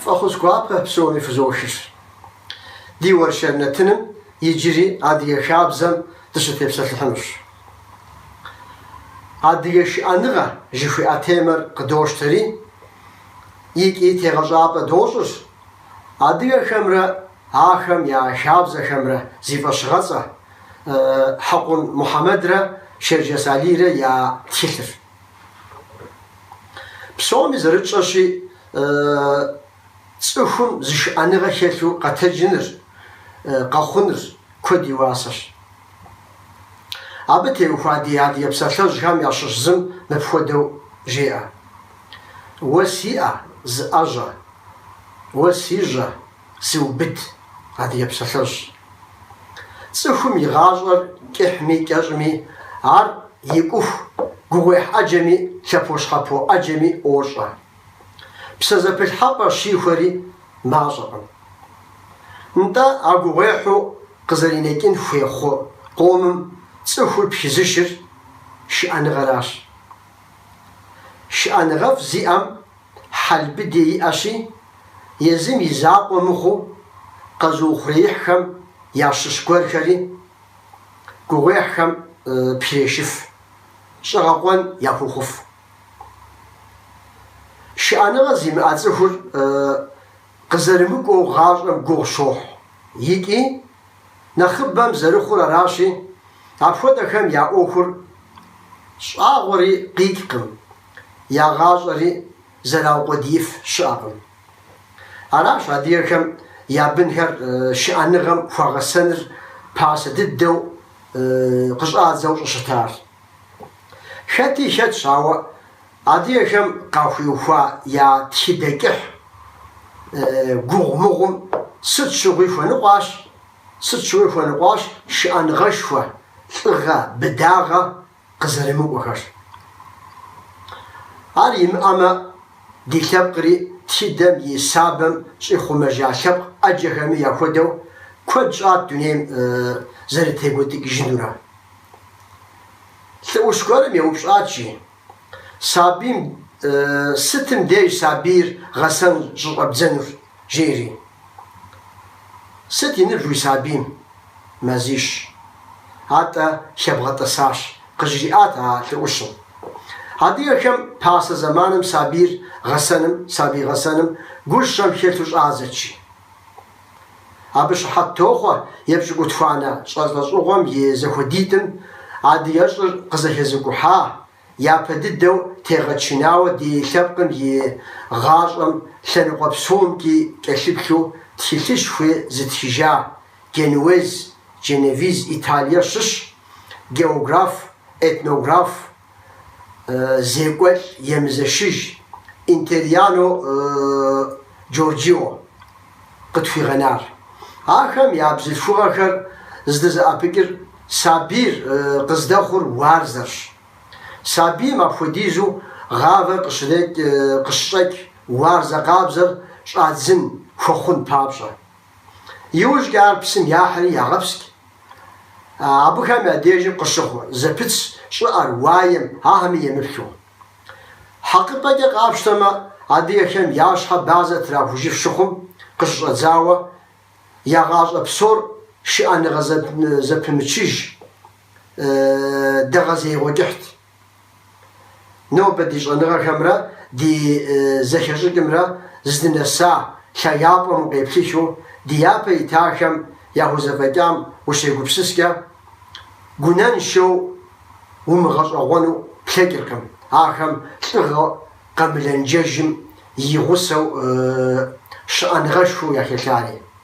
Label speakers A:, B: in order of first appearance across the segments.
A: Фӏэхъус гуапэ псоми фызохыр. Ди уэршэр нэтыным иджыри адыгэ хабзэм дыщытепсэлъыхьынущ. Адыгэ шыӏэныгъэ жыхуиӏэ темэр къыдощтэри, икӏи тегъэщӏапӏэ дощӏыр адыгэхэмрэ ахэм я хабзэхэмрэ зи фӏэщыгъэцӏэ Хьэкъун Мухьэмэдрэ Шэрджэс Алийрэ я тхылъыр. Псоми зэрытщӏэщи, цӏыхум зышыӏэныгъэ хэлъу къэтэджыныр, къэхъуныр куэд и уасэщ. Абы теухуа ди адыгэ псалъэжьхэм ящыщ зым мыпхуэдэу жеӏэ. Уэ си ӏэ, зыӏэжьэ. Уэ си жьэ, зыубыд, адыгэ псалъэжь. Цӏыхум и гъащӏэр кӏыхьми кӏэщӏми, ар икӏуху гугъуехь ӏэджэми лъэпощхьэпо ӏэджэми ӏуощӏэ. Псэ зэпылъхьэпӏэ щихуэри мащӏэкъым. Нтӏэ, а гугъуехьу къызэринэкӏын хуей хъу къомым цӏыхур пхызышыр шыӏэныгъэращ. Шыӏэныгъэфӏ зиӏэм хьэл быдэ иӏэщи, езым и закъуэ мыхъуу къэзыухъуреихьхэм ящыщ гуэрхэри гугъуехьхэм пхрешыф, щӏэгъэкъуэн яхуохъуф. Шыӏэныгъэ зимыӏэ цӏыхур къызэрымыкӏуэу гъащӏэм гугъу щохь икӏи, нэхъыбэм зэрыхъур аращи, апхуэдэхэм я ӏуэхур щӏагъуэри къикӏкъым, я гъащӏэри зэраукъуэдииф щыӏэкъым. Аращ адыгэхэм я бынхэр шыӏэныгъэм хуагъэсэныр пасэ дыдэу къыщӏадзэу щӏыщытар. Хэти хэтщ, ауэ адыгэхэм къахуиухуа я тхыдэ кӏыхь гугъу мыгъуэм сыт щыгъуи хуэныкъуащ, сыт щыгъуи хуэныкъуащ шыӏэныгъэшхуэ, лӏыгъэ, быдагъэ къызэрымыкӏуэхэр. Ар имыӏэмэ, ди лъэпкъри тхыдэм и сабэм щӏихъумэжа лъэпкъ ӏэджэхэми яхуэдэу куэд щӏат дунейм зэрытекӏуэдыкӏыжынурэ. Лӏы ӏущ гуэрым еупщӏат, жи, сабийм, сытым деж сабийр гъэсэн щӏыщӏэбдзэнур, жери. Сыт и ныбжь уи сабийм? Мазищ. Атӏэ, лъэбгъэтӏысащ, къыжриӏат а лӏы ӏущым. Адыгэхэм пасэ зэманым сабийр гъэсэным, сабий гъэсэным гущэм хэлъу щӏадзэт, жи. Абы щыхьэт тохъуэ епщыкӏутхуанэ лӏэщӏыгъуэм и зэхуэдитӏым адыгэщӏыр къызэхэзыкӏухьа, япэ дыдэу тегъэчынауэ ди лъэпкъым и гъащӏэм лъэныкъуэ псомкӏи кӏэлъыплъу тхылъышхуи зытхыжа генуэз, дженевиз, Италие щыщ географ, этнограф, зекӏуэлӏ емызэшыж Интериано Джорджио къытхуигъэнар. Ахэм я бзылъхугъэхэр здызэӏэпыкӏыр сабийр къыздэхъур уарзэрщ. Сабийм апхуэдизу гъавэр къыщрекӏ, къыщыщӏэкӏ уарзэ къабзэр щӏадзын хуэхъун папщӏэ. Иужькӏэ ар псым яхьри ягъэпскӏ абыхэм я дежым къыщыхъу зэпыт щӏыӏэр, уаем, ахэми емыплъу. Хьэкъыпӏэкӏэ къапщтэмэ, адыгэхэм я щхьэ бадзэ трахужыф щыхъум къыщыщӏэдзауэ, я гъащӏэ псор шыӏэныгъэ зэпымычыж, дэгъэзеигъуэ кӏыхьт. Нобэ ди щӏэныгъэхэмрэ ди зэхэщӏыкӏымрэ здынэса лъагапӏэм укъеплъыхыу ди япэ итахэм яхузэфӏэкӏам ущегупсыскӏэ, гунэншэу умыгъэщӏэгъуэну плъэкӏыркъым, ахэм лӏыгъэ къэмылэнджэжым и гъусэу шыӏэныгъэшхуэу яхэлъари.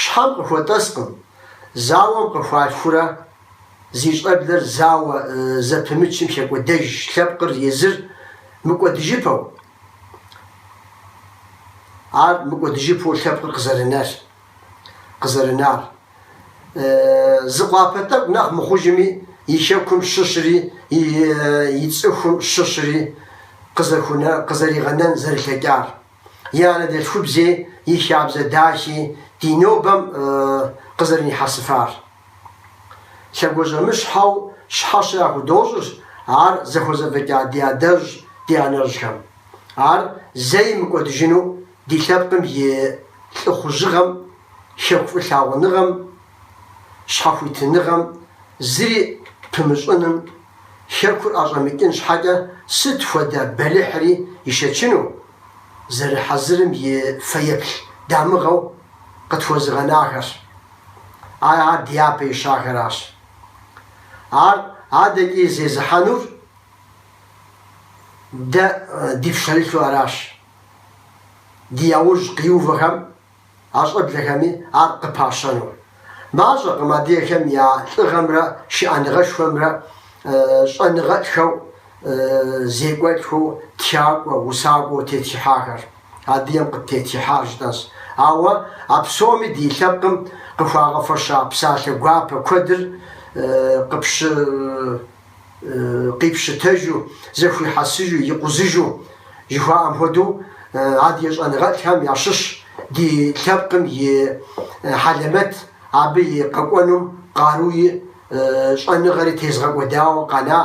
A: Щхьэм къыхуэтӏэскъым, зауэм къыхуалъхурэ зи щӏэблэр зауэ зэпымычым хэкӏуэдэж лъэпкъыр езыр мыкӏуэдыжыпэу. Ар мыкӏуэдыжыпэу лъэпкъыр къызэрынэр, къызэрынар. Зы къуапэ тӏэкӏу нэхъ мыхъужыми, и хэкум щыщри, и цӏыхум щыщри къызэригъэнэн зэрылъэкӏар. и анэдэлъхубзи, и хабзэ дахи, ди нобэм къызэрынихьэсыфар. Лъэгуажьэмыщхьэу щхьэщэ яхудощӏыр ар зыхузэфӏэкӏа ди адэжь, ди анэжьхэм. Ар зэи мыкӏуэдыжыну ди лъэпкъым и лӏыхъужьыгъэм, хэку фӏылъагъуныгъэм, щхьэхуитыныгъэм зыри пымыщӏыным, Хэкур ӏэщӏэмыкӏын щхьэкӏэ сыт хуэдэ бэлыхьри ишэчыну зэрыхьэзырым и фэеплъ дамыгъэу къытхуэзыгъэнахэрщ. Ар ар дяпэ ищахэращ. Ар адэкӏи зезыхьэнур дэ ди пщэрылъу аращ. Ди яужь къиувэхэм. А щӏэблэхэми ар къыпащэну. Мащӏэкъым адыгэхэм я лӏыгъэмрэ шыӏэныгъэшхуэмрэ щӏэныгъэлӏхэу, зекӏуэлӏхэу, тхакӏуэ, усакӏуэу тетхыхьахэр. Адыгэм къыттетхыхьар жытӏэщ. Ауэ а псоми ди лъэпкъым къыхуагъэфэща псалъэ гуапэ куэдыр къыпщы-. къипщытэжу, зэхуихьэсыжу, икъузыжу, жыхуаӏэм хуэдэу, адыгэ щӏэныгъэлӏхэм ящыщщ ди лъэпкъым и хьэлэмэт, абы и къэкӏуэнум къаруи щӏэныгъэри тезыгъэкӏуэдауэ къэна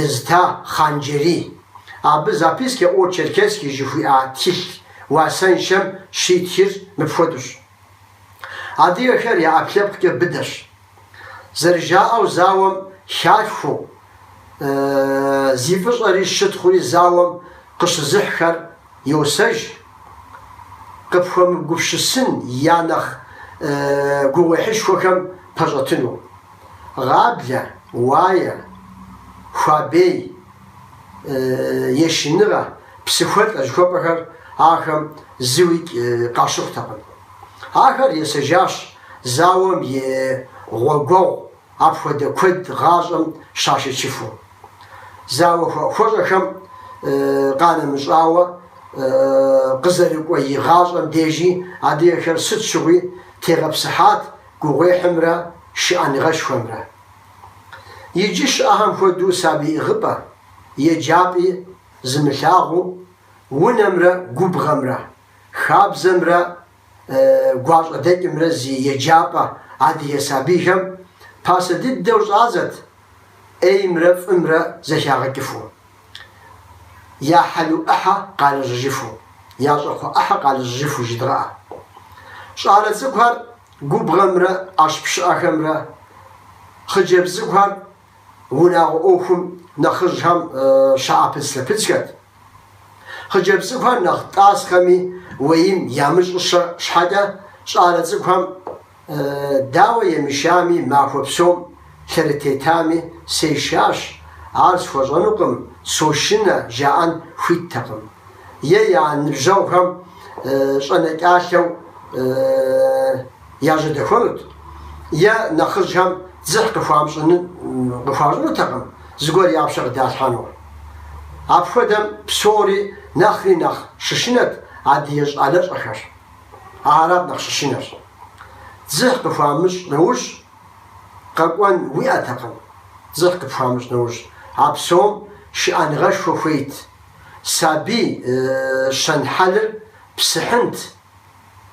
A: езыта Хъан-Джэрий. Абы Записки о Черкесии жыхуиӏа тхылъ уасэншэм щитхыр мыпхуэдэущ. Адыгэхэр я ӏэпкълъэпкъкӏэ быдэщ. Зэрыжаӏэу зауэм халъхуэу, зи фӏыщӏэри щытхъури зауэм къыщызыхьхэр йосэж, къыпхуэмыгупщысын я нэхъ гугъуехьышхуэхэм пэщӏэтыну. Гъаблэ, уае, хуабей, ешыныгъэ, псыхуэлӏэ жыхуэпӏэхэр ахэм зыуи къащыхъутэкъым. Ахэр есэжащ зауэм и гъуэгуэгъу апхуэдэ куэд гъащӏэм щашэчыфу. Зауэ хуэӏухуэщӏэхэм къанэмыщӏауэ, къызэрыкӏуэ и гъащӏэм дежи адыгэхэр сыт щыгъуи тегъэпсыхьат, гугъуехьымрэ шыӏэныгъэшхуэмрэ. Иджы щыӏэхэм хуэдэу сабий ӏыгъыпӏэ, еджапӏи зымылъагъуу, унэмрэ губгъуэмрэ, хабзэмрэ гуащӏэдэкӏымрэ зи еджапӏэ адыгэ сабийхэм пасэ дыдэу щӏадзэт ӏеймрэ фӏымрэ зэхягъэкӏыфу, я хьэлу ӏыхьэ къалэжьыжыфу, я щӏакхъуэ ӏыхьэ къалэжьыжыфу жыдгъэӏэ. Щӏалэ цӏыкӏухэр губгъуэмрэ ӏэщ пщыӏэхэмрэ, хъыджэбз цӏыкӏухэр унагъуэ ӏуэхум нэхъыжьхэм щаӏэпыдзлъэпыдзхэт. Хъыджэбз цӏыкӏухэр нэхъ тӏасхъэми, уэим ямыщӏыщэ щхьэкӏэ, щӏалэ цӏыкӏухэм, Дауэ емышами, махуэ псом лъэрытетами, сешащ, ар схуэщӏэнукъым, сошынэ, жаӏэн хуиттэкъым. Е я ныбжьэгъухэм щӏэнэкӏалъэу яжьэдэхуэнут, е нэхъыжьхэм дзыхь къыхуащӏынутэкъым зыгуэр я пщэ къыдалъхьэну. Апхуэдэм псори нэхъри нэхъ щышынэт адыгэ щӏалэщӏэхэр. Арат нэхъ щышынэр. Дзыхь къыхуамыщӏ нэужь, къэкӏуэн уиӏэтэкъым. Дзыхь къыпхуамыщӏ нэужь, а псом шыӏэныгъэшхуэ хуейт. Сабий щэнхьэлыр псыхьынт.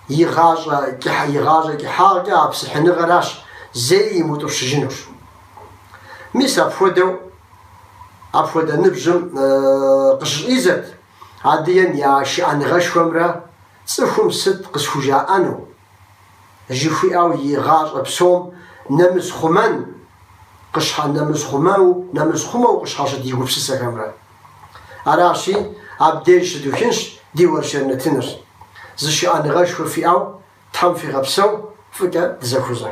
A: И гъащӏэ кӏыхьагъкӏэ а псыхьыныгъэращ зэи имыутӏыпщыжынур. Мис апхуэдэу апхуэдэ ныбжьым къыщыщӏидзэрт. Адыгэм я шыӏэныгъэшхуэмрэ цӏыхум сыт къысхужаӏэну? жыхуиӏэу и гъащӏэ псом нэмысхъумэн къыщхьэ нэмысхъумэу нэмысхъумэу къыщхьэщыт и гупсысэхэмрэ. Аращи, абдеж щыдухынщ ди уэршэр нэтыныр. Зы шыӏэныгъэшхуэ фиӏэу Тхьэм фигъэпсэу, фӏыкӏэ дызэхузэ.